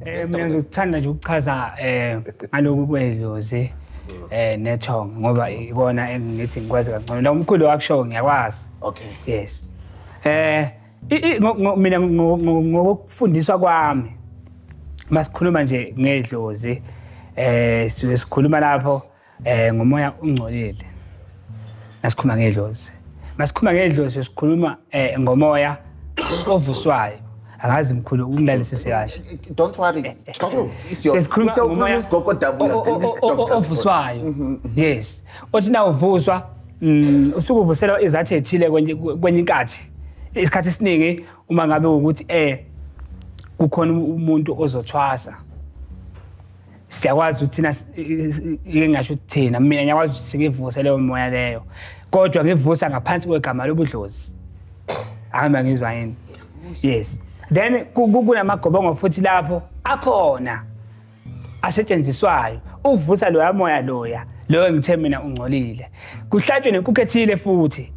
Eh mina ngikuthanda nje ukuchaza eh ngaloku kwedlozi eh nethong ngoba ikona engithi ngikwazi kancane la umkhulu wakusho ngiyakwazi okay yes eh mina ngokufundiswa kwami masikhuluma nje ngedlozi eh sikhuluma lapho Eh ngomoya ungcolile. Nasikhuluma ngedlozi. Masikhuluma ngedlozi sikhuluma eh ngomoya ovuswayo. Angazi mkhulu ukungilalesise kahle. Don't worry. Eh, eh, Talk is your. Sikhuluma ngomoya isigogo dabula doctor. Ovuswayo. Mhm, mhm. Yes. Othi na uvuswa mm, usuku uvuselwa izathu ethile kwenye kwenye inkathi. Isikhathi esiningi uma ngabe ukuthi eh kukhona umuntu ozothwasa. siyakwazi ukuthi thina ike ngasho ukuthi thina mina ngiyakwazi ukuthi sikivuse leyo moya leyo kodwa ngivusa ngaphansi kwegama lobudlozi ahamba ngizwa yini yes then kunamagobongo futhi lapho akhona asetshenziswayo ukuvusa loya moya loya loyo ngithe mina ungcolile kuhlatshwe nenkukhu ethile futhi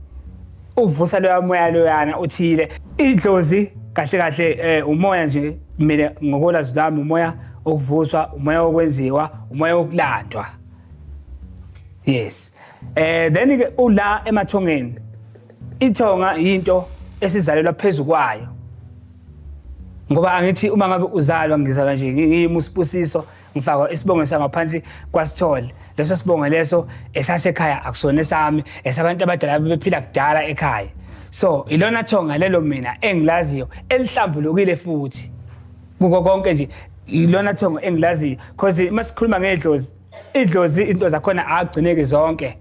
uvusa loya moya loyana uthile idlozi kahle kahle eh, umoya nje mina ngokolazi lami umoya okuvuswa umoya okwenziwa umoya okulandwa yes eh then ke ula emathongeni ithonga into esizalelwa phezulu kwayo ngoba angithi uma ngabe uzalwa ngizalwa nje ngiyimusibusiso ngifaka isibongo sangaphansi kwasithole leso sibongo leso esasekhaya akusona esami esabantu abadala bebephila kudala ekhaya so ilona thonga lelo mina engilaziyo elihlambulukile futhi kuko konke nje ilona thonga engilaziyo because masikhuluma ngedlozi idlozi into zakhona agcineki zonke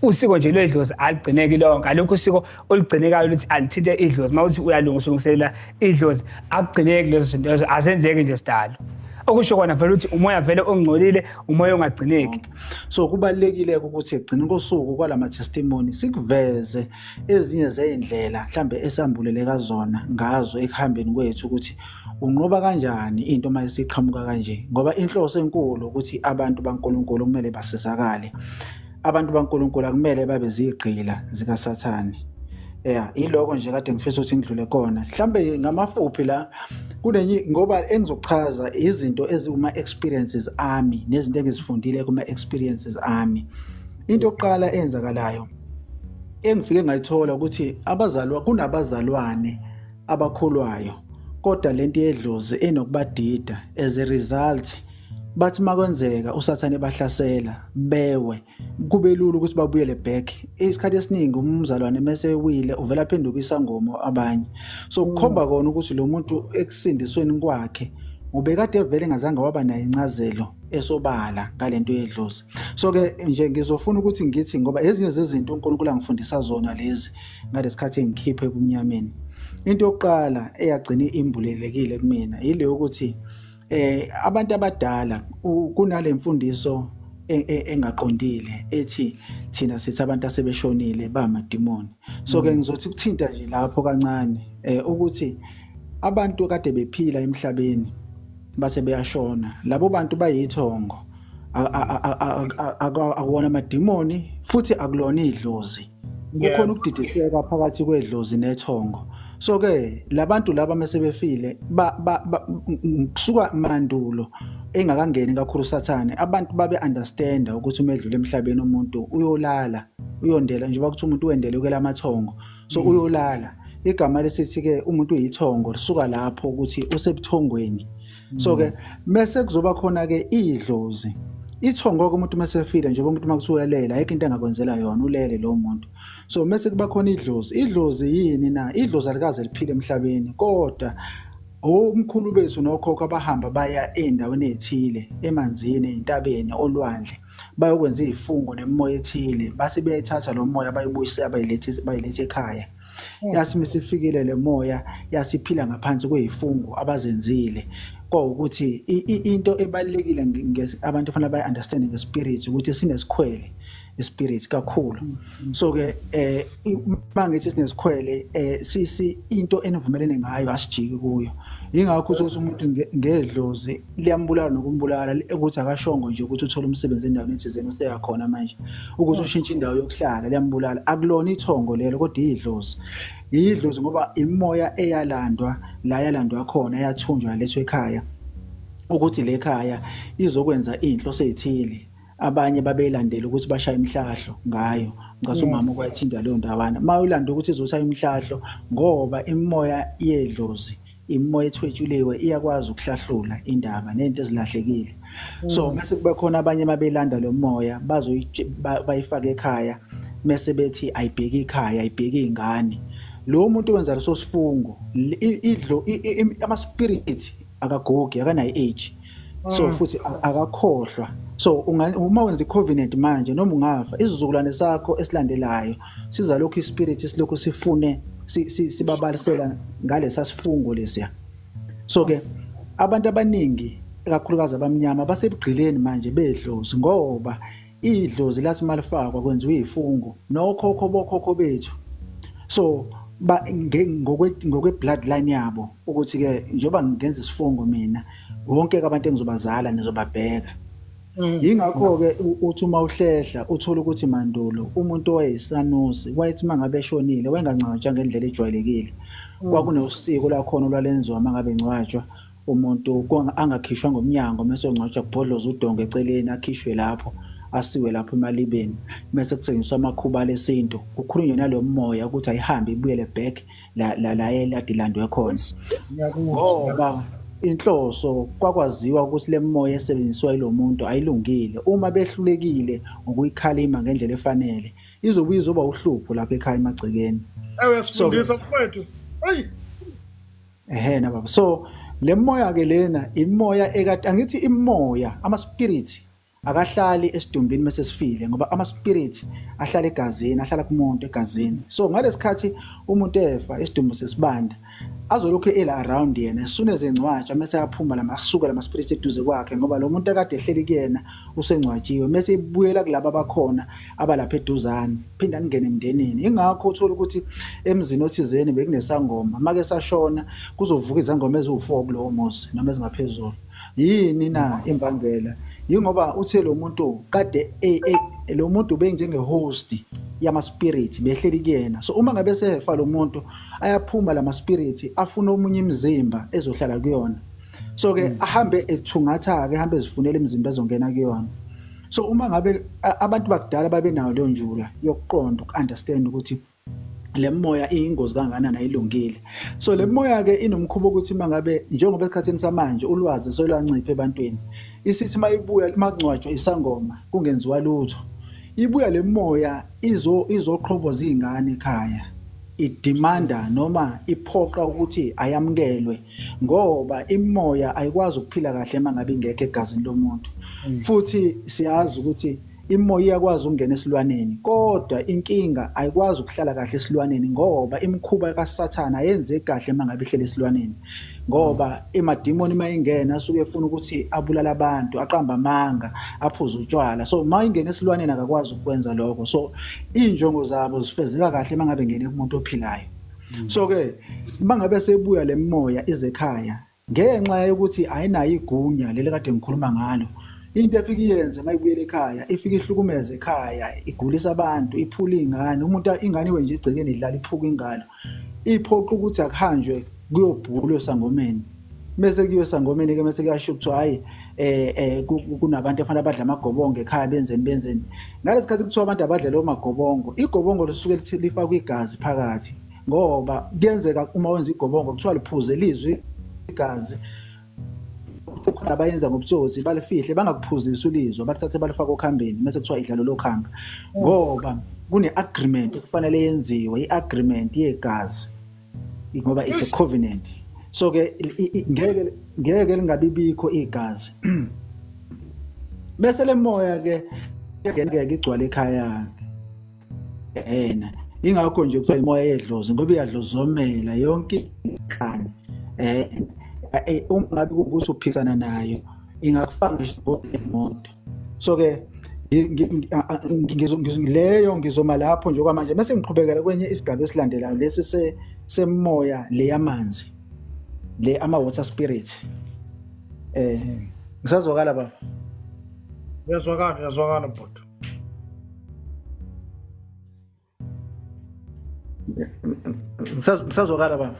usiko nje lwedlozi alugcineki lonke alukho usiko olugcinekayo luthi alithinte idlozi uma uthi uyalunga usulungiselela idlozi akugcineki lezo zinto lezo azenzeki nje sidalo okusho kona vele ukuthi umoya vele ongcolile umoya ongagcineki so kubalekile ukuthi egcina kosuku kwalama testimony sikuveze ezinye zeindlela mhlambe esambuleleka zona ngazo ekuhambeni kwethu ukuthi Unqoba kanjani into uma isiqhamuka kanje? Ngoba inhloso enkulu ukuthi abantu baNkulunkulu kumele basizakale. Abantu baNkulunkulu akumele babe zigqila zikaSathane. Yeah, iloko nje kade ngifisa ukuthi ngidlule kona. Mhlambe ngamafuphi la kunenye ngoba engizochaza izinto eziwuma experiences ami nezinto engizifundile kuma experiences ami. Into yokuqala eyenzakalayo engifike ngayithola ukuthi abazalwa kunabazalwane abakholwayo kodwa lento yedlozi enokubadida as a result bathi makwenzeka usathane bahlasela bewe kube lula ukuthi babuyele back isikhathi esiningi umzalwane mese wile uvela phenduka isangoma abanye so kukhomba mm. kona ukuthi lo muntu ekusindisweni kwakhe ubekade vele ngazange waba nayo incazelo esobala ngalento yedlozi so ke nje ngizofuna ukuthi ngithi ngoba ezinye zezinto uNkulunkulu angifundisa zona lezi ngalesikhathi engikhiphe ebumnyameni into yokuqala eyagcina imbulelekile kumina yile yokuthi eh abantu abadala kunale mfundiso E, e, engaqondile ethi thina sithi abantu asebeshonile bamadimoni so ke mm. ngizothi kuthinta nje lapho kancane eh ukuthi abantu kade bephila emhlabeni base beyashona labo bantu bayithongo akuwona amadimoni futhi akulona idlozi kukhona ukudidiseka phakathi kwedlozi nethongo so ke labantu laba mesebefile kusuka mandulo engakangeni kakhulu sathane abantu babe understand ukuthi uma edlula emhlabeni umuntu uyolala uyondela njengoba kuthi umuntu uwendele ukela amathongo so mm. uyolala igama lesithi ke umuntu uyithongo lisuka lapho ukuthi usebuthongweni so ke mese mm. kuzoba khona ke idlozi ithongo ke umuntu mase efile nje umuntu makuthiwa uyalela ayikho into engakwenzela yona ulele lo muntu so mese kuba khona idlozi idlozi yini na idlozi alikaze liphile emhlabeni kodwa omkhulu bethu nokhokho abahamba baya endaweni ethile emanzini entabeni olwandle bayokwenza izifungo nemoya ethile base beyayithatha lo moya bayibuyise abayilethe bayilethe ekhaya hmm. yathi misifikile le moya yasiphila ngaphansi kweyifungu abazenzile kwawukuthi into ebalekile abantu fanele bayi understand nge spirit ukuthi sinesikhwele ispirit kakhulu hmm. so ke eh mangithi sinesikhwele eh sisi into enivumelene ngayo asijiki kuyo ingakho ukuthi umuntu ngedlozi liyambulala nokumbulala ukuthi akashongo nje ukuthi uthole umsebenzi endaweni ethizeni useyakhona manje ukuthi ushintshe indawo yokuhlala liyambulala akulona ithongo lelo kodwa iyidlozi iyidlozi ngoba imimoya eyalandwa la yalandwa khona yathunjwa lethwe ekhaya ukuthi le khaya izokwenza inhlo seyithile abanye babeyilandela ukuthi bashaye imhlahlo ngayo ngase umama kwayithinta leyo ndawana uma uyilanda ukuthi izoshaya imhlahlo ngoba imimoya yedlozi imimoya ethwetshuliwe iyakwazi ukuhlahlula indaba nento ezilahlekile so mm. mase kube khona abanye mabelanda lo moya bazoyifaka ekhaya mese bethi ayibheki ikhaya ayibheki ingane lo muntu wenza leso sifungo idlo ama spirit akagogi akanayi age so mm. futhi akakhohlwa so uma wenza i-covenant manje noma ungafa isizukulwane sakho esilandelayo sizalokhu ispirit silokhu sifune sibabalisela ngalesa sifungo lesiya so ke abantu abaningi kakhulukazi abamnyama basebugqileni manje bedlozi ngoba idlozi lathi malifakwa kwenziwa izifungo nokhokho bokhokho bethu so ba ngokwe ngokwe bloodline yabo ukuthi ke njoba ngenza isifungo mina wonke abantu engizobazala nizobabheka mm. yingakho ke uthi uma uhlehla uthola ukuthi mandulo umuntu owayesanusi wayethi mangabe eshonile wayengancwatshwa ngendlela ejwayelekile mm. kwakunosiko lakhona olwalenziwa mangabe ngcwatshwa umuntu angakhishwa ngomnyango mese ongcwatshwa kubhodloza udonga eceleni akhishwe lapho asiwe lapho emalibeni mese kusengiswa amakhuba lesintu kukhulunywe nalo moya ukuthi ayihambe ibuyele back la la la eladilandwe khona ngoba inhloso kwakwaziwa ukuthi le moya esebenziswa yilo muntu ayilungile uma behlulekile ngokuyikhalima ngendlela efanele izobe izoba uhlupho lapha ekhaya emagcekeni ewe sifundisa mfowethu eyi ehe na baba so le moya ke lena imoya ekade angithi imoya ama spirit akahlali esidumbini mase sifile ngoba ama spirit ahlala egazini ahlala kumuntu egazini so ngalesikhathi umuntu efa isidumbu sesibanda azolokhu ela around yena esune zengcwatsha mase aphuma lama asuka lama spirit eduze kwakhe ngoba lo muntu akade ehleli kuyena usengcwatshiwe mase ibuyela kulabo abakhona abalapha eduzane phinde angene emndenini ingakho uthola ukuthi emzini othizeni bekunesangoma make sashona kuzovuka izangoma eziwu-four kulowo muzi noma ezingaphezulu yini na imbangela yingoba uthe lo muntu kade e, e, lo muntu benjengehosti yamaspiriti behleli kuyena so uma ngabe sehefa lo muntu ayaphuma la maspiriti afuna omunye imizimba ezohlala kuyona so ke mm. ahambe ethungatha ke ahambe ezifunela imizimba ezongena kuyona so uma ngabe abantu bakudala babenayo leyo njula yokuqonda uku-understand ukuthi le moya iyingozi kangakanani ayilungile so le moya-ke inomkhuba ukuthi uma ngabe njengoba esikhathini samanje ulwazi solwanciphe ebantwini isithi uma ibuya uma kungcwatshwa isangoma kungenziwa lutho ibuya le moya izo izoqhoboza iy'ngane ekhaya idimanda noma iphoqa ukuthi ayamukelwe ngoba imimoya ayikwazi ukuphila kahle uma ngabe ingekho egazini lomuntu mm. futhi siyazi ukuthi imoya iyakwazi ukungena esilwaneni kodwa inkinga ayikwazi ukuhlala kahle esilwaneni ngoba imikhuba kaSathana ayenze kahle mangabe ihlele esilwaneni ngoba emadimoni uma ingena asuke efuna ukuthi abulala abantu aqamba amanga aphuze utshwala so uma ingena esilwaneni akakwazi ukwenza lokho so injongo zabo zifezeka kahle mangabe ngene kumuntu ophilayo so ke bangabe sebuya lemoya izekhaya ngenxa yokuthi ayinayo igunya leli kade ngikhuluma ngalo into efike iyenze uma ibuyela ekhaya ifike ihlukumeze ekhaya igulisa abantu iphula iy'ngane umuntu ingane iwe nje igcekeni idlala iphuka ingalo iphoqa ukuthi akuhanjwe kuyobhulwa esangomeni mese kuyiwe sangomeni ke mese kuyasho kuthiwa hayi eh, eh kunabantu efana abadla amagobongo ekhaya benzeni benzeni ngalesi khathi kuthiwa abantu abadla leyo magobongo igobongo lisuke lithi lifakwa igazi phakathi ngoba kuyenzeka uma wenza igobongo kuthiwa liphuze lizwi igazi ukhona abayenza ngobutsotsi balifihle bangakuphuzisi ulizwa balithathe balifake okhambeni mese kuthiwa idlalo lokhamba ngoba kune-agreement kufanele yenziwe i-agreement yegazi ngoba it's a covenant so ke ngeke ngeke lingabibikho igazi bese lemoya ke ngeke igcwale ekhaya yena ingakho nje kuthiwa imoya yedlozi ngoba iyadlozomela yonke inhlani eh, eh, eh uma ngabe ukuthi uphisana nayo ingakufaka nje ngokunemoto so ke leyo ngizoma lapho nje okwamanje bese ngiqhubekela kwenye isigaba esilandelayo lesi semoya le yamanzi le ama-water spirit eh ngisazwakala baba uyazwakala uyazwakala bhuti ngisazwakala baba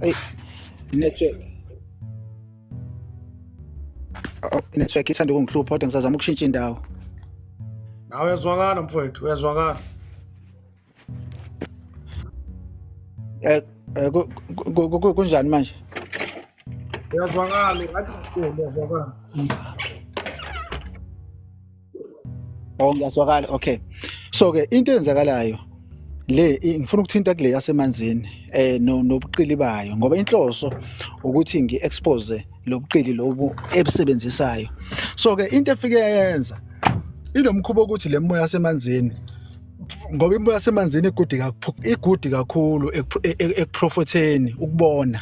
Hey, network. Oh, network ithanda ukungihlupha kodwa ngisazama ukushintsha indawo. Nawe uyazwakala mfowethu, uyazwakala. Eh, eh ku- ku- ku- ku- kunjani manje? Uyazwakala, right? Uyazwakala. Oh ngiyazwakala okay. So ke into eyenzakalayo le ngifuna ukuthinta kule yasemanzini eh nobuqili bayo ngoba inhloso ukuthi ngiexpose lobuqili lobu ebusebenzisayo so ke into efike yayenza inomkhuba ukuthi le moya yasemanzini ngoba imoya yasemanzini igudi igudi kakhulu e, e, ekuprofotheni ukubona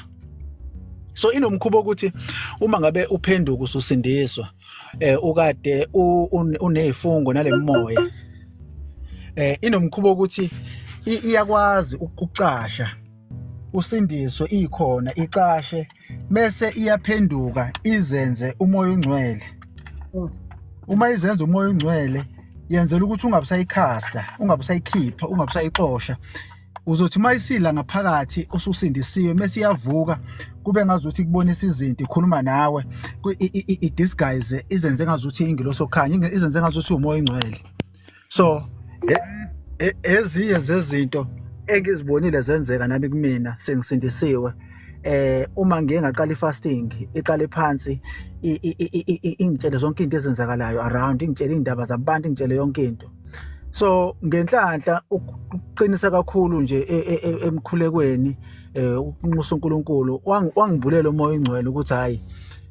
so inomkhuba ukuthi uma ngabe uphenduka ususindiswa eh ukade unezifungo nalemoya eh inomkhubo ukuthi iyakwazi ukucasha usindiswe ikhona icashe bese iyaphenduka izenze umoya ongcwele mm. uma izenza umoya ongcwele yenzela ukuthi ungabusayikhasta ungabusayikhipha ungabusayixosha uzothi uma isila ngaphakathi ususindisiwe mese iyavuka kube ngazuthi kubonisa izinto ikhuluma nawe i-disguise izenze ngazuthi ingilosi okukhanya izenze ngazuthi umoya ingcwele so e, e, ezinye zezinto engizibonile zenzeka nami kumina sengisindisiwe eh uma ngiye ngaqala ifasting iqale phansi ingitshele zonke into ezenzakalayo around ingitshele indaba zabantu ingitshele yonke into so ngenhlanhla ukuqinisa kakhulu nje e, e, e, emkhulekweni eh, ukunxusa uNkulunkulu wangibulela umoya ingcwele ukuthi hayi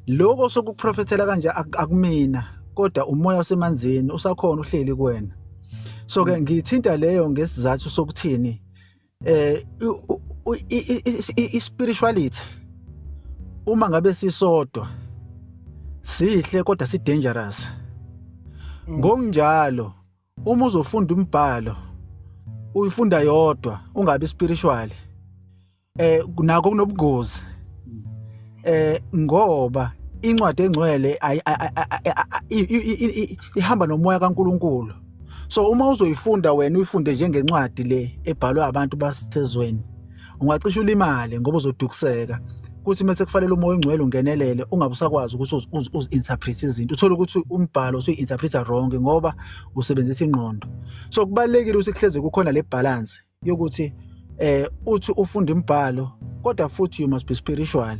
lokho sokuprofethela kanje akumina kodwa umoya osemanzini usakhona uhleli kuwena so ke mm. ngithinta leyo ngesizathu sokuthini eh i-spirituality uma ngabe sisodwa sihle kodwa si dangerous mm. ngokunjalo uma uzofunda umbhalo uyifunda yodwa ungabi spiritual eh nako kunobungozi mm. eh ngoba incwadi engcwele ihamba nomoya kaNkuluNkulu so uma uzoyifunda wena uyifunde njengencwadi le ebhalwe abantu basezweni ungacisha ulimale ngoba uzodukuseka kuthi mase kufanele umoya ongcwele ungenelele ungabe usakwazi ukuthi uzi-interpret izinto uthole ukuthi umbhalo usuyi-interpreta wrong ngoba usebenzisa ingqondo so kubalulekile ukuthi kuhleze kukhona le balance yokuthi eh uthi ufunda imibhalo kodwa futhi you must be spiritual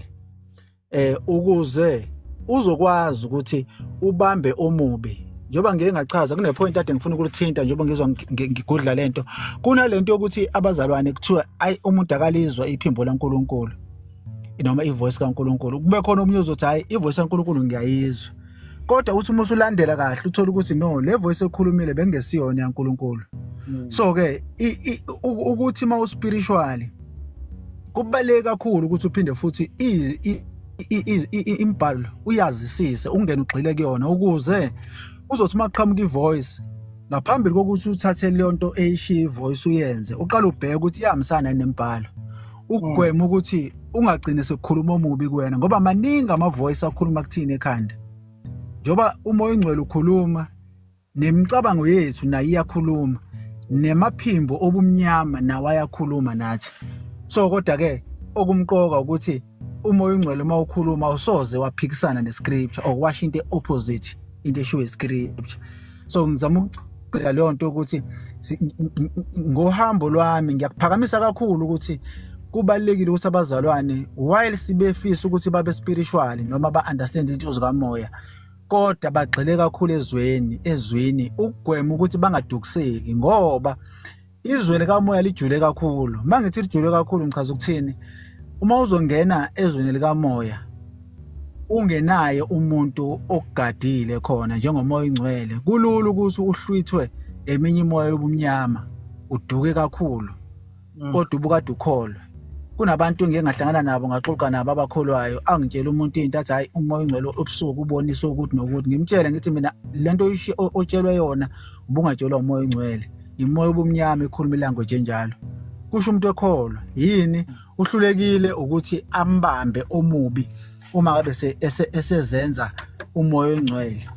eh ukuze uzokwazi ukuthi ubambe omubi njengoba ngeke ngachaza kune point ade ngifuna ukulithinta njengoba ngizwa ngigudla lento kunalento yokuthi abazalwane kuthiwa ayi umuntu akalizwa iphimbo laNkuluNkulu noma ivoice kaNkuluNkulu kube khona omunye ozothi hayi ivoice kaNkuluNkulu ngiyayizwa kodwa uthi uma usulandela kahle uthola ukuthi no le voice ekhulumile bengesiyona yaNkulunkulu mm. so ke ukuthi uma uspiritually kubaleke kakhulu ukuthi uphinde futhi imbhalo uyazisise ungena ugxile kuyona ukuze uzothi uma kuqhamuka ivoice ngaphambili kokuthi uthathe leyo nto eyishiya ivoice uyenze uqale ubheke ukuthi iyahambisana nembhalo ukugwema ukuthi ungagcine sekukhuluma omubi kuwena ngoba maningi amavoice akhuluma kuthini ekhanda njengoba uma oyingcwele ukhuluma nemicabango yethu nayo iyakhuluma nemaphimbo obumnyama nawo ayakhuluma nathi so kodwa-ke okumqoka ukuthi uma oyingcwele uma ukhuluma awusoze waphikisana nescripture or washo into e-opposite into eshiwo iscripture so ngizama ukugcila leyo nto ukuthi ngohambo lwami ngiyakuphakamisa kakhulu ukuthi kubalekile ukuthi abazalwane while sibefisa ukuthi babe spiritual noma ba understand into zikamoya kodwa bagxile kakhulu ezweni ezwini ukugwema ukuthi bangadukiseki ngoba izwe likamoya lijule kakhulu uma ngithi lijule kakhulu ngichaza ukuthini uma uzongena ezweni likamoya ungenaye umuntu okugadile khona njengomoya ingcwele kulula ukuthi uhlwithwe eminye imoya yobumnyama uduke kakhulu mm. kodwa ubukade ukholwe kunabantu ngike ngahlangana nabo ngaxoxa nabo abakholwayo angitshela umuntu into athi hayi umoya ongcwele ubusuku ubonisa ukuthi nokuthi ngimtshele ngithi mina lento otshelwe yona ubungatshelwa umoya ongcwele yimoya obumnyama ekhuluma ilanguage enjalo kusho umuntu ekholwa yini uhlulekile ukuthi ambambe omubi uma ngabe esezenza umoya ongcwele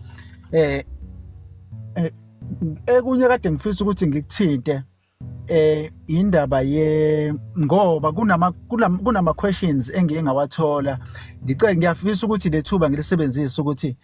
eh, eh ekunye kade ngifisa ukuthi ngikuthinte eh indaba ye ngoba kunama kunama questions engiye ngawathola ngicela ngiyafisa ukuthi lethuba ngilisebenzise ukuthi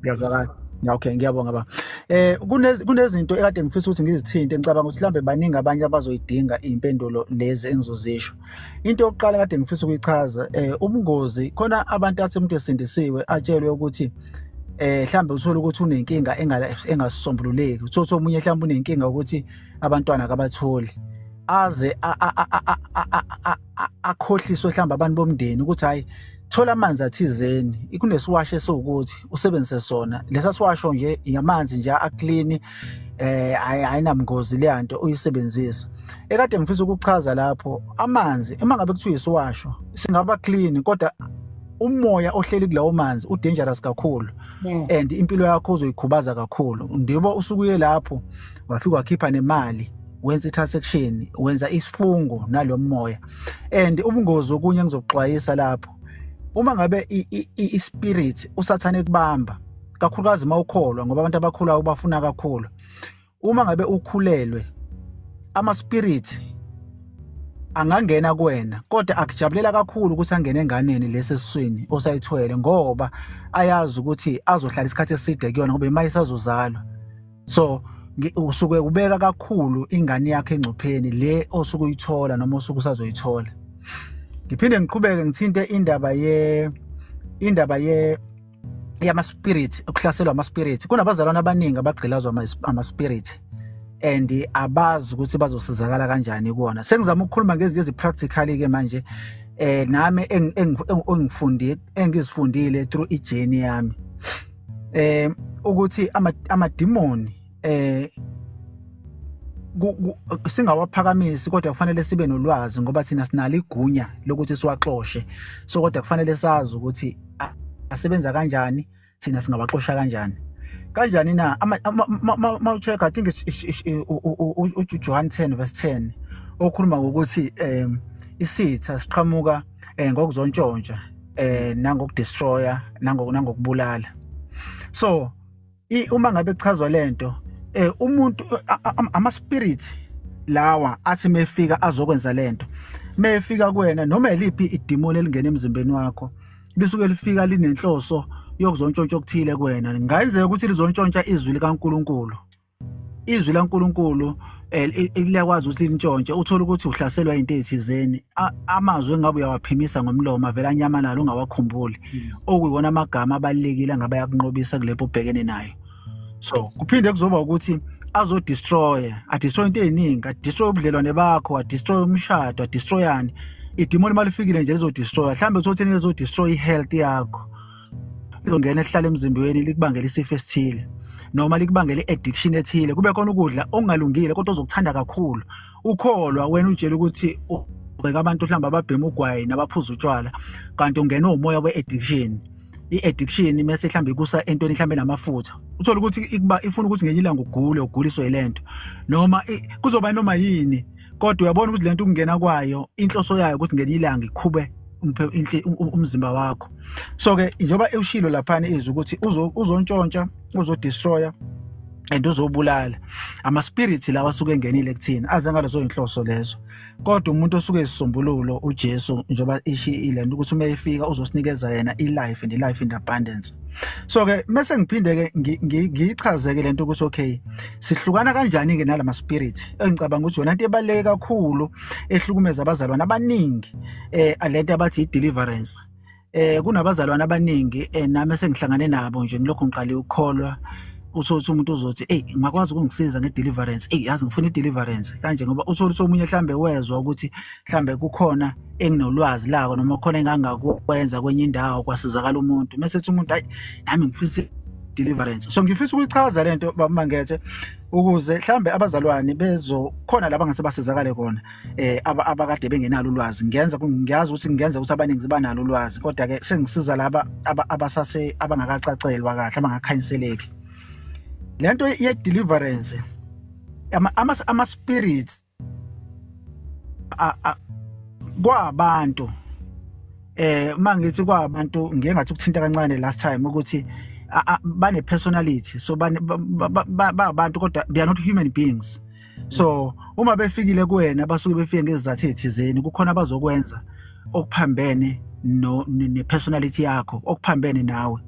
ngiyazwakala okay ngiyabonga ba eh kunezinto ekade ngifisa ukuthi ngizithinte ngicabanga ukuthi mhlambe baningi abanye abazoyidinga impendulo lezi engizozisho into yokuqala kade ngifisa ukuyichaza eh ubungozi khona abantu athi umuntu esindisiwe atshelwe ukuthi eh mhlambe uthola ukuthi unenkinga engasisombululeki uthola ukuthi omunye mhlambe unenkinga ukuthi abantwana kabatholi aze akhohliswe mhlawumbe abantu bomndeni ukuthi hhayi thola amanzi athizeni ikunesiwasho esiwukuthi usebenzise sona lesa siwasho nje yamanzi nje aklini eh ayinamngozi leya nto uyisebenzisa ekade ngifisa ukuchaza lapho amanzi uma ngabe kuthiwa isiwasho singaba clean kodwa umoya ohleli kulawo manzi udangerous kakhulu and impilo yakho uzoyikhubaza kakhulu ndibo usukuye lapho wafika wakhipha nemali wenza i-transaction wenza isifungo nalo moya and ubungozi okunye engizokuxwayisa lapho uma ngabe i-spirit usathane ekubamba kakhulukazi uma ukholwa ngoba abantu abakhulayo bafuna kakhulu uma ngabe ukhulelwe ama-spirit angangena kuwena kodwa akujabulela kakhulu ukuthi angene enganeni lesi esiswini osayithwele ngoba ayazi ukuthi azohlala isikhathi eside kuyona ngoba imayisazozalwa so usuke ubeka kakhulu ingane yakhe engcupheni le osuke uyithola noma osuke usazoyithola ngiphinde ngiqhubeke ngithinte indaba ye indaba ye yamaspirit ukuhlaselwa amaspirit kunabazalwane abaningi abagqilazwa amaspirit and abazi ukuthi bazosizakala kanjani kuwona sengizama ukukhuluma ngezinto ezipractically ke manje eh nami engifunde engizifundile through ijourney yami eh ukuthi amadimoni eh singawaphakamisi kodwa kufanele sibe nolwazi ngoba thina sinalo igunya lokuthi siwaxoshe so kodwa kufanele sazi ukuthi asebenza kanjani thina singawaxosha kanjani kanjani na ma ucheck i think uJohn 10 verse 10 okhuluma ngokuthi um isitha siqhamuka eh, ngokuzontshontsha eh nangokudestroya nangokubulala so uma ngabe kuchazwa lento eh umuntu ama spirits lawa athi mefika azokwenza lento mefika kuwena noma eliphi idemon elingena emzimbeni wakho lisuke lifika linenhloso yokuzontshontsha okuthile kuwena ngayenzeka ukuthi lizontshontsha izwi likaNkuluNkulu izwi laNkulunkulu eh, liyakwazi ukuthi lintshontshe uthole ukuthi uhlaselwa into ezithizeni amazwi engabe uyawaphimisa ngomlomo avela anyamalala ungawakhumbuli hmm. okuyiwona amagama abalekile ngabe yakunqobisa kulepo ubhekene nayo so kuphinde kuzoba ukuthi azodestroy adestroy into eziningi adestroy ubudlelwane bakho adestroy umshado adestroyani idimoni malifikile nje lizodestroy mhlawumbe uthothe lizodestroy i-health yakho lizongena elihlala emzimbeni likubangela isifo esithile noma likubangela i-addiction ethile kube khona ukudla okungalungile kodwa ozokuthanda kakhulu ukholwa wena utshela ukuthi ubheka abantu mhlawumbe ababhema ugwayi nabaphuza utshwala kanti ungena umoya we-addiction i-addiction mese mhlawumbe ikusa entweni mhlawumbe namafutha uthole ukuthi ikuba ifuna ukuthi ngenye ilanga ugule uguliswe yile nto noma kuzoba noma yini kodwa uyabona ukuthi lento ukungena kwayo inhloso yayo ukuthi ngelinye ilanga ikhube umzimba wakho so ke njengoba ewushilo laphana izwi ukuthi uzontshontsha uzodestroya and uzobulala ama-spirit lawa asuke engenile kuthina aze ngalezo yinhloso lezo kodwa umuntu osuke esisombululo ujesu njengoba ishiyile nto ukuthi uma efika uzosinikeza yena i-life and i-life in abundance so ke mese ngiphinde ke ngiyichazeke lento ukuthi okay sihlukana kanjani ke nalama spirit engicabanga ukuthi yona into ebaleke kakhulu ehlukumeza abazalwane abaningi eh lento abathi i deliverance eh kunabazalwane abaningi eh, nami sengihlangane nabo nje ngilokho ngiqale ukukholwa usothi umuntu uzothi hey ngakwazi ukungisiza ngedeliverance hey yazi ngifuna ideliverance kanje ngoba usothi omunye mhlambe wezwa ukuthi mhlambe kukhona enginolwazi lako noma khona engangakwenza kwenye indawo kwasizakala umuntu mese ethi umuntu hayi nami ngifisa deliverance so ngifisa ukuyichaza lento bamangethe ukuze mhlambe abazalwane bezokhona laba ngase basizakale kona eh abakade bengenalo ulwazi ngiyenza ngiyazi ukuthi ngiyenza ukuthi abaningi zibanalo ulwazi kodwa ke sengisiza laba abasase abangakacacelwa kahle abangakhanyiseleki lento ye deliverance ama ama spirits kwabantu eh uma ngithi kwabantu ngeke ngathi ukuthinta kancane last time ukuthi bane personality so ba abantu kodwa they are not human beings so uma befikile kuwena basuke befike ngezizathu ezithizeni kukhona abazokwenza okuphambene ne personality yakho okuphambene nawe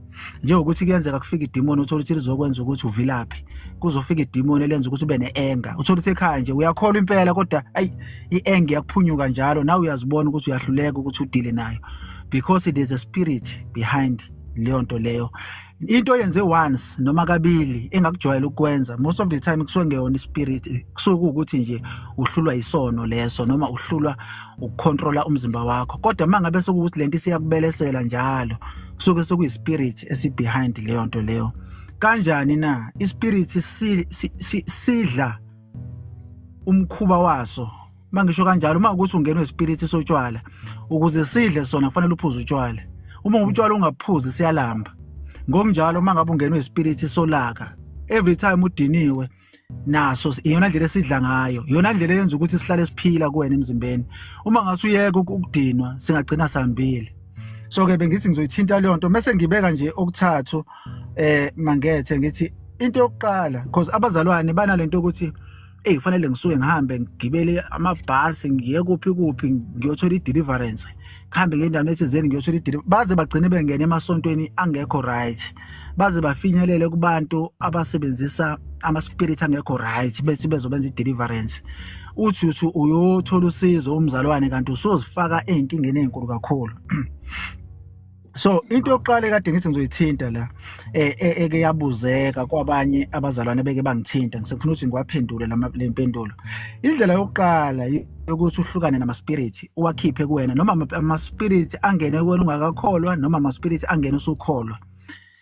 njengokuthi kuyenzeka kufika idimoni uthole ukuthi lizokwenza ukuthi uvilaphe kuzofika idimoni elenza ukuthi ube ne-enga uthole ukuthi ekhaya nje uyakholwa impela kodwa ayi i-enga iyakuphunyuka njalo nawe uyazibona ukuthi uyahluleka ukuthi udile nayo because there's a spirit behind leyo nto leyo into yenze once noma kabili engakujwayela ukwenza most of the time kusuke ngeyona ispirit kusuke kuwukuthi nje uhlulwa isono leso noma uhlulwa ukucontrola umzimba wakho kodwa uma ngabe sekuwukuthi lento isiyakubelesela njalo kusuke sekuyispirit esibehind leyo nto leyo kanjani na ispirit sidla umkhuba waso mangisho kanjalo uma ukuthi ungena wespirit sotshwala ukuze sidle sona kufanele uphuze utshwala uma ngobutshwala ungaphuzi siyalamba ngokunjalo uma ngabe ungena wespirit solaka every time udiniwe naso iyona ndlela esidla ngayo iyona ndlela eyenza ukuthi sihlale siphila kuwena emzimbeni uma ngase uyeke ukudinwa singagcina sihambile so ke bengithi ngizoyithinta leyo nto mese ngibeka nje okuthathu eh mangethe ngithi into yokuqala because abazalwane banalento ukuthi eyi kufanele ngisuke ngihambe ngigibele amabhasi ngiye kuphi kuphi ngiyothola i-deliverance ngihambe ngendawo esizeni ngiyothola i-deliverance baze bagcine bengene emasontweni angekho right baze bafinyelele kubantu abasebenzisa ama-spirit angekho right bese bezobenza i-deliverance uthi uthi uyothola usizo umzalwane kanti usozifaka ey'nkingeni ey'nkulu kakhulu so into yokuqala ekade ngithi ngizoyithinta la e, e, eke yabuzeka kwabanye abazalwane beke bangithinta ngisefuna ukuthi ngiwaphendule le mpendulo indlela yokuqala yokuthi uhlukane nama-spirit uwakhiphe kuwena noma ama-spirit angene kuwena ungakakholwa noma ama-spirit angene usukholwa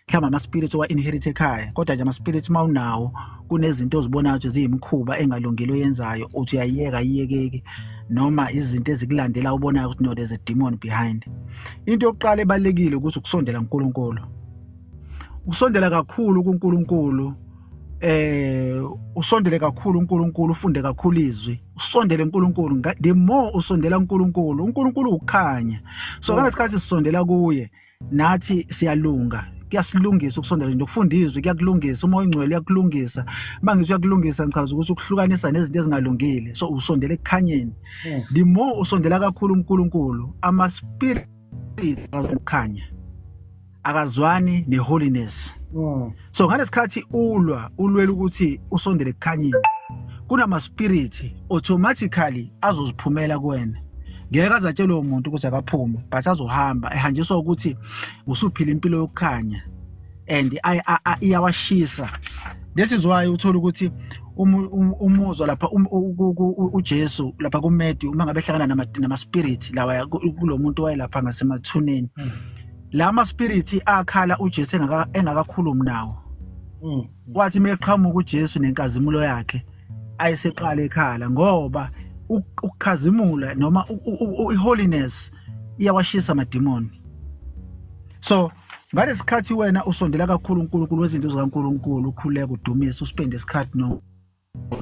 mhlawumbe ama-spirit owa-inherit ekhaya kodwa nje ama-spirit uma unawo kunezinto ozibonayo ukuthi ziyimkhuba engalungile oyenzayo uthi uyayiyeka ayiyekeki noma izinto ezikulandela ubonayo ukuthi no there's a demon behind into yokuqala ebalulekile ukuthi ukusondela kunkulunkulu ukusondela kakhulu kuNkulunkulu eh usondele kakhulu uNkulunkulu ufunde kakhulu izwi usondele uNkulunkulu the more usondela uNkulunkulu uNkulunkulu ukukhanya so mm. ngalesikhathi sisondela kuye nathi siyalunga kuyasilungisa ukusondela nje ukufunda izwi kuyakulungisa uma oyingcwele uyakulungisa uma ngithi uyakulungisa ngichaza ukuthi ukuhlukanisa nezinto ezingalungile so usondela ekukhanyeni hmm. the more usondela kakhulu uNkulunkulu ama spirit ukukhanya akazwani neholiness mm. so ngalesikhathi ulwa ulwela ukuthi usondele kukhanyile kunama spirit automatically azoziphumela kuwena ngeke azatshelwe umuntu ukuthi akaphume but azohamba ehanjiswa ukuthi usuphila impilo yokukhanya and iyawashisa this is why uthola ukuthi umuzwa lapha um, uJesu lapha kuMedi uma ngabe hlangana nama nama spirit lawa kulomuntu wayelapha ngasemathuneni mm. lama spirit akhala uJesu engaka engakakhulumi nawo mm, mm. wathi meqhamuka uJesu nenkazimulo yakhe ayiseqala ekhala ngoba ukukhazimula noma iholiness iyawashisa amadimoni so ngalesikhathi wena usondela kakhulu uNkulunkulu wezinto zikaNkulunkulu ukhuleka udumisa uspende isikhathi no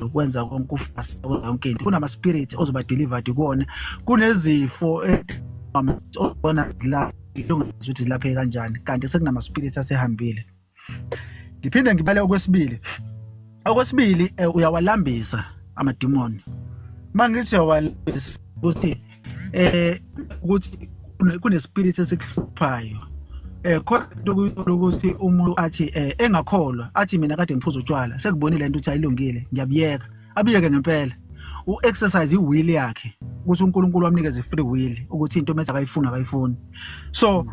ukwenza konke ufasa konke into kunama spirit ozoba delivered kuona kunezifo obona la ilungizwe ukuthi laphe kanjani kanti sekunama spirit asehambile ngiphinde ngibale okwesibili okwesibili eh, uyawalambisa amadimoni mangithi uyawalambisa ukuthi eh ukuthi kunespirit esikuhluphayo eh khona into ukuthi umuntu athi eh engakholwa athi mina kade ngiphuza utshwala sekubonile into ukuthi ayilungile ngiyabiyeka abiyeke ngempela u-exercise i-will yakhe ukuthi unkulunkulu wamnikeze free will ukuthi into mese akayifuni akayifuni so mm.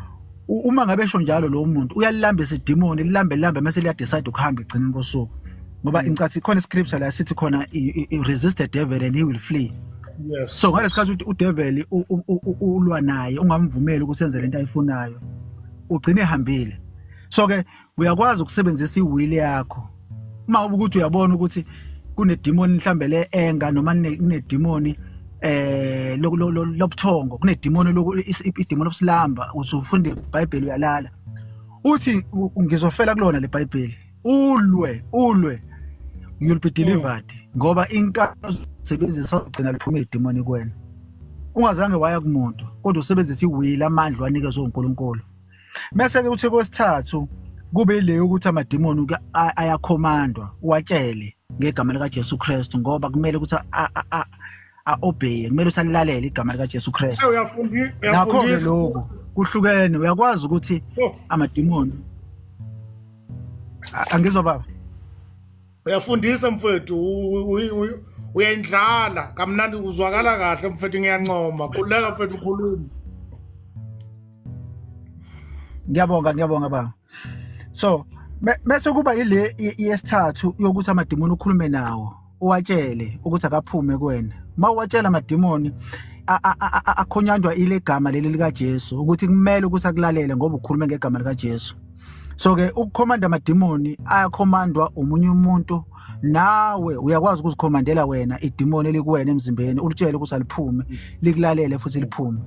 uma ngabe esho njalo lowo muntu uyalilamba isidimoni lilambe lilambe mase liyadecide ukuhamba egcineni kosuku ngoba mm. incathi ikhona iscripture la sithi khona resist the devil and he will flee yes so ngalesikhathi ukuthi udevil ulwa naye ungamvumeli ukuthi enze lento ayifunayo ugcine ehambile so ke uyakwazi ukusebenzisa iwili yakho uma ukuthi uyabona ukuthi kunedimoni mhlambe le enga noma kunedimoni eh lobuthongo kunedimoni idimoni lobusilamba uzofunde iBhayibheli uyalala uthi ngizofela kulona leBhayibheli ulwe ulwe you'll be delivered ngoba inkalo sebenzisa ugcina liphuma idimoni kuwena ungazange waya kumuntu kodwa usebenzisa iwili amandla wanikezwe uNkulunkulu Mese-ke uthi kwesithathu kube ile yokuthi amadimoni ayakhomandwa uwatshele ngegama likaJesu Kristu ngoba kumele ukuthi a-obey kumele ukuthi alilalele igama likaJesu Kristu nakho-ke lokhu kuhlukene uyakwazi ukuthi oh. amadimoni angizwa baba uyafundisa mfwethu uyendlala kamnandi uzwakala kahle mfethu ngiyancoma khululeka mfethu ukhuluma ngiyabonga ngiyabonga baba so bese kuba ile yesithathu yokuthi amadimoni ukhulume nawo uwatshele ukuthi akaphume kuwena uma uwatshela amadimoni akhonyanjwa ile gama leli likaJesu ukuthi kumele ukuthi akulalele ngoba ukhulume ngegama likaJesu so ke ukukhomanda amadimoni ayakhomandwa umunye umuntu nawe uyakwazi ukuzikhomandela wena idimoni elikuwena emzimbeni ulitshele ukuthi aliphume likulalele futhi liphume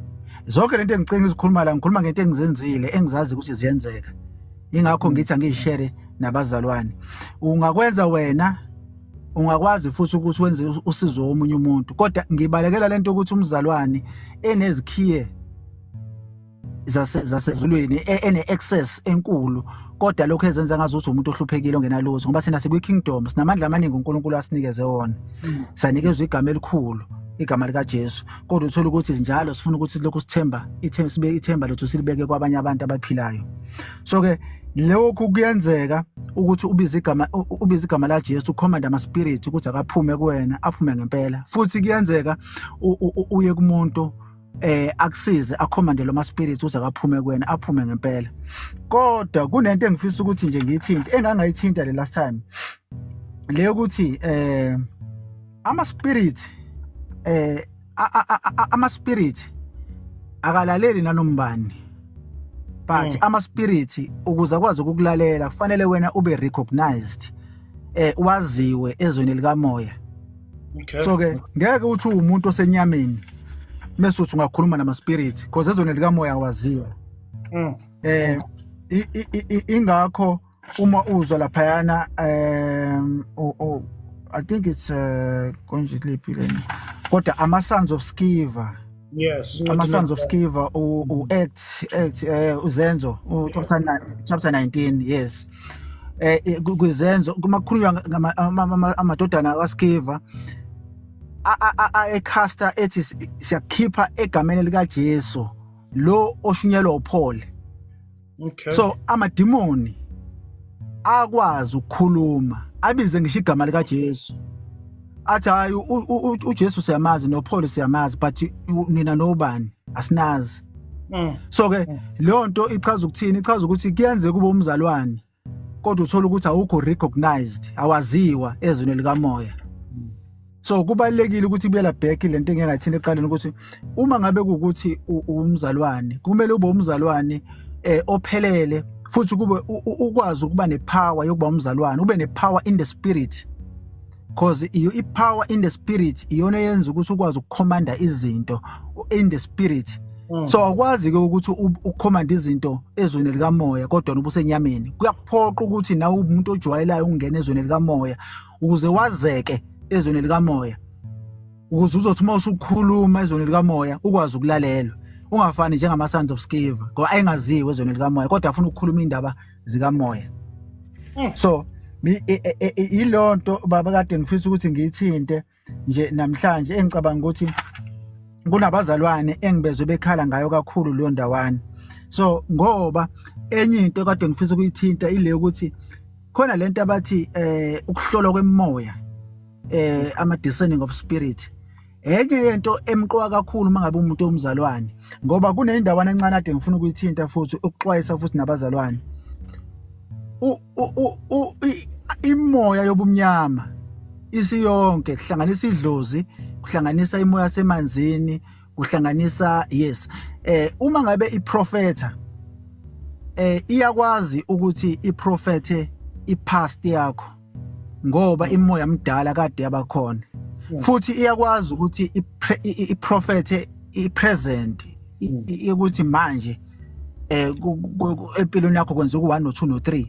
zonke lento engicinga izikhuluma la ngikhuluma ngento engizenzile engizazi ukuthi ziyenzeka ingakho mm. ngithi angiyishere nabazalwane ungakwenza wena ungakwazi futhi ukuthi wenze usizo womunye umuntu kodwa ngibalekela lento ukuthi umzalwane enezikhiye zasezulwini e, ene-access enkulu kodwa lokho ezenza ngazi ukuthi umuntu ohluphekile ongenalutho ngoba thina sikwi-kingdom sinamandla amaningi unkulunkulu asinikeze wona hmm. sanikezwa igama elikhulu igama likajesu kodwa uthole ukuthi njalo sifuna ukuthi lokhu sithemba sibe ithemba lethu silibeke kwabanye abantu abaphilayo so-ke lokhu kuyenzeka ukuthi ubize igama ubize igama la Jesu ukhomanda ama spirit ukuthi akaphume kuwena aphume ngempela futhi kuyenzeka uye kumuntu eh akusize akhomande lo maspirit uze akaphume kuwena aphume ngempela kodwa kunento engifisa ukuthi nje ngiyithinte engangayithinta le last time leyo ukuthi eh ama spirit eh ama spirit akalaleli nanombani but mm. ama spirit ukuze akwazi ukukulalela kufanele wena ube recognized eh waziwe ezweni likamoya okay. so ke ngeke uthi uwumuntu osenyameni mese uthi ungakhuluma nama-spirit because ezweni likamoya awaziwa mm. eh ingakho uma uzwa laphayana um oh, i think it's uh, konje liphi lena kodwa ama-sons of skiva yes ama-sons of skiva u-act act um eh, uzenzo chapter 19 yes eh, eh kwizenzo kumakhulunywa amadodana kaSkiva ayecaster ethi siyakhipha egameni lika Jesu lo oshunyelwa uPaul okay so amadimoni akwazi ukukhuluma abize ngisho igama lika Jesu athi hayi uJesu siyamazi noPaul siyamazi but nina nobani asinazi mm. so ke mm. leyo nto ichaza ukuthini ichaza ukuthi kuyenzeka kube umzalwane kodwa uthola ukuthi awukho recognized awaziwa ezweni likamoya mm. so kubalekile ukuthi buyela back lento engingathini eqaleni ukuthi uma ngabe ukuthi umzalwane kumele ube umzalwane eh ophelele futhi kube ukwazi ukuba nepower yokuba umzalwane ube nepower in the spirit cause you i power in the spirit iyona yenza ukuthi ukwazi ukukhomanda izinto in the spirit mm. so akwazi ke ukuthi ukhomanda izinto ezweni likamoya kodwa ubusenyameni kuyaphoqa ukuthi nawe umuntu ojwayelayo ungena ezweni likamoya ukuze wazeke ezweni likamoya ukuze uzothi uma usukhuluma ezweni likamoya ukwazi ukulalela ungafani njengama sons of skiva ngoba ayengaziwe ezweni likamoya kodwa afuna ukukhuluma indaba zikamoya mm. so e, e, e, yilonto baba kade ngifisa ukuthi ngiyithinte nje namhlanje engicabanga ukuthi kunabazalwane engibezwe bekhala ngayo kakhulu leyo ndawana so ngoba enye into kade ngifisa ukuyithinta ile ukuthi khona lento abathi eh ukuhlolwa kwemoya eh ama discerning of spirit enye yento emqoka kakhulu uma ngabe umuntu omzalwane ngoba kunendawana encane ade ngifuna ukuyithinta futhi ukuxwayisa futhi nabazalwane imoya yobumnyama isiyonke kuhlanganisa idlozi kuhlanganisa imoya semanzini kuhlanganisa yes eh uma ngabe iprofetha eh iyakwazi ukuthi iprofethe ipast yakho ngoba imoya mdala kade yabakhona hmm. futhi iyakwazi ukuthi iprofethe ipresent hmm. ukuthi manje eh empilweni yakho kwenza ku1 no 2 no 3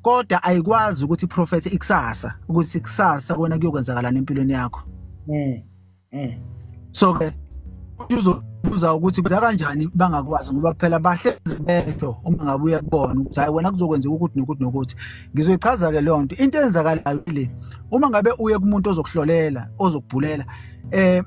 kodwa ayikwazi ukuthi iprofethe ikusasa ukuthi ikusasa kona kuyokwenzakala empilweni yakho hmm. mm. so ke uzobuza ukuthi kuza kanjani bangakwazi ngoba phela bahlezi besho uma ngabe uya kubona ukuthi hayi wena kuzokwenzeka ukuthi nokuthi nokuthi ngizoyichaza ke leyo nto into eyenzakalayo le uma ngabe uye kumuntu ozokuhlolela ozokubhulela eh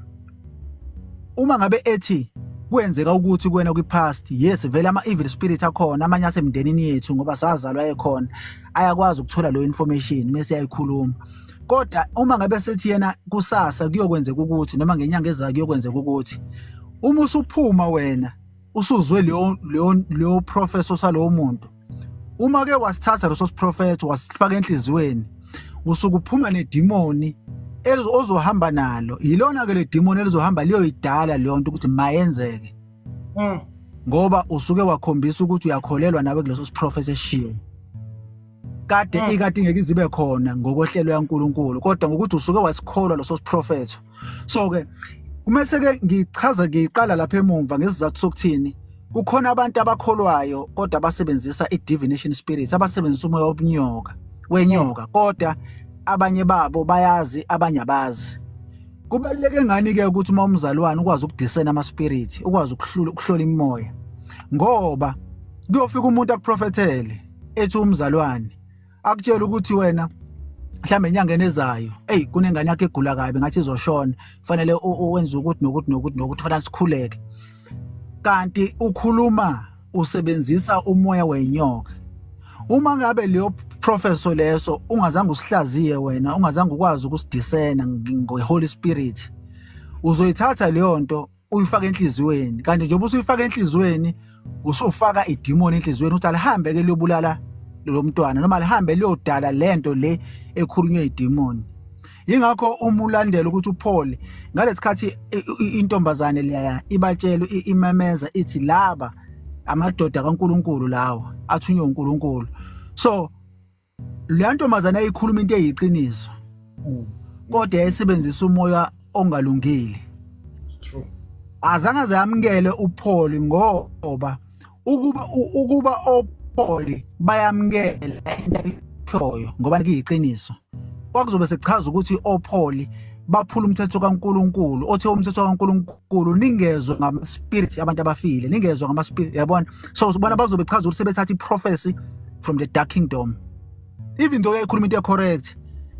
uma ngabe ethi kwenzeka ukuthi kuwena kwi-past yes vele ama-evil spirit akhona amanye asemndenini yethu ngoba sazalwa ekhona ayakwazi ukuthola leyo information mese yayikhuluma kodwa uma ngabe sethi yena kusasa kuyokwenzeka ukuthi noma ngenyanga ezayo kuyokwenzeka ukuthi uma usuphuma wena usuzwe leyo leyo leyo professor salowo muntu uma ke wasithatha leso siprofetho wasifaka enhliziyweni usuke uphuma nedimoni ozohamba nalo yilona ke le demon elizohamba liyoyidala leyo nto ukuthi mayenzeke mm. ngoba usuke wakhombisa ukuthi uyakholelwa nawe kuleso siprofethi eshiwo kade mm. ikade ngeke izibe khona ngokwehlelo yaNkuluNkulu kodwa ngokuthi usuke wasikholwa loso siprofetho so ke uma seke ngichaza ngiqala lapha emumva ngesizathu sokuthini kukhona abantu abakholwayo kodwa basebenzisa i-divination spirit abasebenzisa umoya obunyoka wenyoka mm. kodwa abanye babo bayazi abanye abazi kubaluleke ngani ke ukuthi uma umzalwane ukwazi ukudisena ama spirit ukwazi ukuhlola imimoya ngoba kuyofika umuntu akuprofethele ethi umzalwane akutshela ukuthi wena mhlawumbe enyangeni ezayo eyi kunengane yakho egula kabi ngathi izoshona kufanele wenze ukuthi nokuthi nokuthi nokuthi fanele sikhuleke kanti ukhuluma usebenzisa umoya wenyoka uma ngabe leyo professor leso ungazange usihlaziye wena ungazange ukwazi ukusidisena ngeholy spirit uzoyithatha leyo nto uyifaka enhliziyweni kanti njengoba usuyifaka enhliziyweni usufaka idimoni enhliziyweni ukuthi alihambe ke liyobulala lo mntwana noma lihambe liyodala le nto le ekhulunywe idimoni yingakho uma ulandela ukuthi uphole ngalesikhathi intombazane leya ibatshela imemeza ithi laba amadoda kaNkuluNkulu lawa athunywe uNkulunkulu so leya ntombazane ayikhuluma into eyiqiniso mm. kodwa yayisebenzisa umoya ongalungile true azange zayamukele upholi ngoba ukuba ukuba opholi bayamukela intayithoyo ngoba liyiqiniso kwakuzobe sekuchaza ukuthi opholi baphula umthetho kaNkuluNkulu othe umthetho kaNkuluNkulu uNkulunkulu ningezwe ngama spirit abantu abafile ningezwe ngama spirit yabona so usibona bazobe chaza ukuthi sebethatha iprophecy from the dark kingdom even though yayikhuluma into correct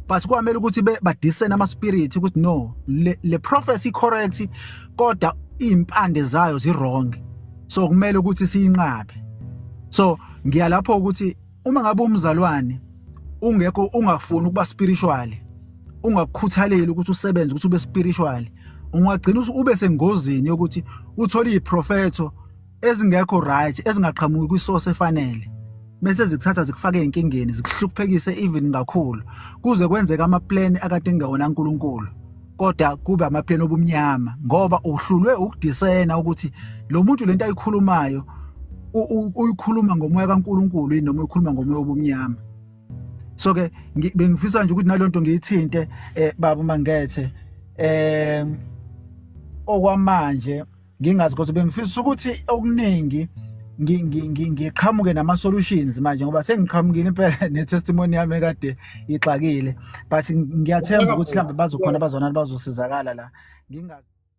but kwamele ukuthi badisene ama spirit ukuthi no le, le prophecy correct kodwa impande zayo zi wrong so kumele ukuthi siyinqabe so ngiyalapho ukuthi uma ngabe umzalwane ungekho ungafuni ukuba spiritual ungakukhuthaleli ukuthi usebenze ukuthi ube spiritual ungagcina ube sengozini yokuthi uthole iprofetho ezingekho right ezingaqhamuki kwisource efanele bese zikuthatha zikufake enkingeni zikuhluphekise even kakhulu kuze kwenzeka amaplan akade ngawona uNkulunkulu kodwa kube amapleni obumnyama ngoba uhlulwe ukudisena ukuthi lo muntu lento ayikhulumayo uyikhuluma ngomoya kaNkuluNkulu yini noma uyikhuluma ngomoya obumnyama so ke bengifisa nje ukuthi nalonto ngiyithinte eh baba mangethe eh okwamanje ngingazi kodwa bengifisa ukuthi okuningi ngiqhamuke nama-solutions manje ngoba sengiqhamukile impela ne-testimony yami ekade ixakile but ngiyathemba ukuthi mhlawumbe bazokhona abazonani bazosizakala la ngingazi